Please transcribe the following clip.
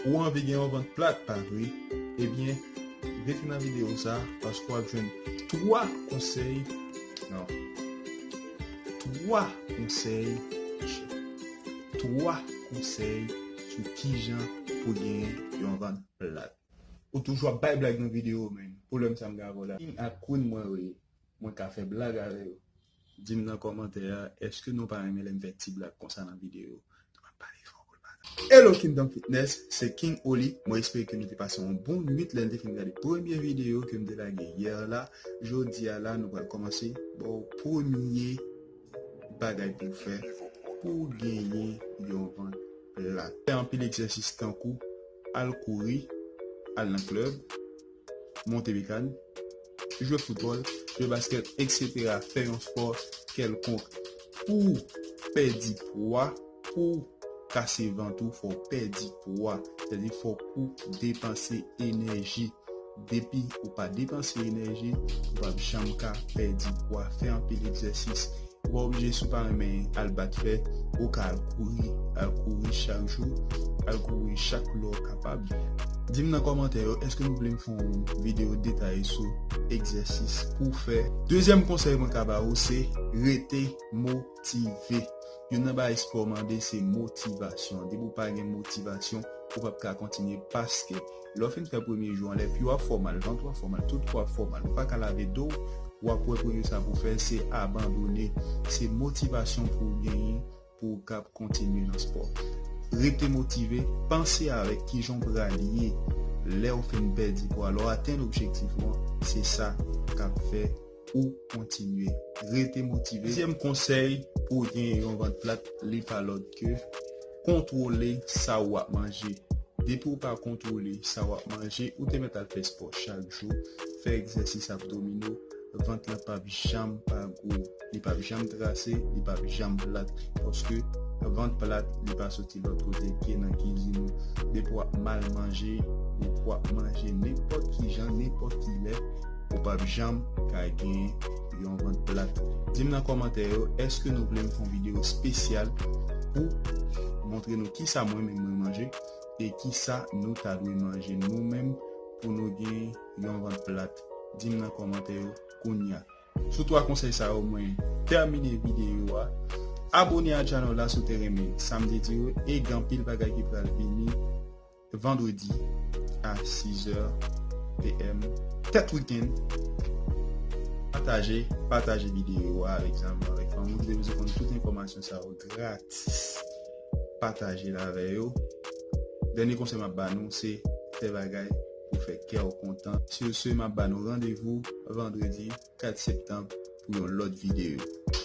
Ou anvi gen yon vant plat pa vre? Ebyen rete nan video sa paske wap jwenn 3 konsèy nan 3 konsèy mesye 3 konsèy sou kijan pou gen yon vant plat. Ou toujou ap bay blag nan video man, pwoblem sa m gen avèw la king ak queen mwen wè mwen ka fè blag avè yo. Dim nan kòmantè a eske nou pa renmen lèm fè ti blag konsa nan video. Hello Kingdom Fitness, se King Oly, mwen espere ke nou te pase yon bon nwit lèn te fin gade premye video kem te lage yè la, jodia la nou pral kòmanse baw premye bagay pouw fè pouw genyen yon vant plat. Fè anpil egzèsis tankou al kouri, al nan club. monte mekàn, jwe foutbòl, jwe baskèt, eksetera, fè yon spò kèlkonk pou w pèdi pwa, pou w kase vant ou fò w pèdi pwa, sa di fòk ou depanse enèji, depi ou pa depanse enèji ou pap janm ka pèdi pwa, fè anpil egzèsis. Ou pa oblije si w pa renmen al bat fè, ou ka al kouri, al kouri chak jou, al kouri chak lè w kapab. Di m nan kòmantè yo èske nou vle m fè yon videyo detaye sou egzèsis pou w fè. Dezyèm konsèy mwen ka ba ou se rete motive. Youn nan bagay espò mande se motivasyon. Depi w pa gen motivasyon, ou p ap ka kontinye paske. Lè w fin fè premye jou an, lè pye w ap fè w mal, vant ou ap fè w mal, tout kò w ap fè w mal, ou pa ka lave do w, w ap wè premye sa pou w fè se abandone. Se motivasyon pou w genyen pou w kab kontinye nan spò. Rete motive, panse avèk kijan w pral ye lè w fin pèdi pwa, lè w atenn objektif ou an, se sa k ap fè. ou kontinye rete motive. Dezyèm konsèy pou w genyen yon vant plat li pa lòt ke kontwole sa ou ap manje. Depi ou pa kontwole sa ou ap manje, ou te mèt al fè spò chak jou, fè egzèsis abdomino, vant lan pap janm pa gwo, li pap janm trase, li pap janm plat paske vant plat li pa soti. Ti lòt kote pye nan kizin ou. Depi w ap mal manje, depi w ap manje nenpòt ki jan, nenpòt ki lè, ou p ap janm ka gen yon vant plat. Di m nan kòmantè yo, èske nou vle m fè yon videyo spesyal pou montre nou kisa mwen menm mwen manje e kisa nou ta dwe manje nou menm pou nou gen yon vant plat? Di m nan kòmantè yo kounya. Sou 3 konsèy sa yo mwen tèmine videyo a. Abone a channel la si w te renmen sam te di yo e gen anpil bagay ki pral vini vendredi a 6 heure PM tèt weekend pataje pataje videyo a avèk zanmi yo avèk fanmi yo ki te bezwen konn tout enfòmasyon sa yo gratis pataje l avè yo dènye konsèy map ba nou se fè bagay pou fè kè w kontan. Sur ce, m ap ba nou randevou vandredi 4 septanb pou yon lòt videyo.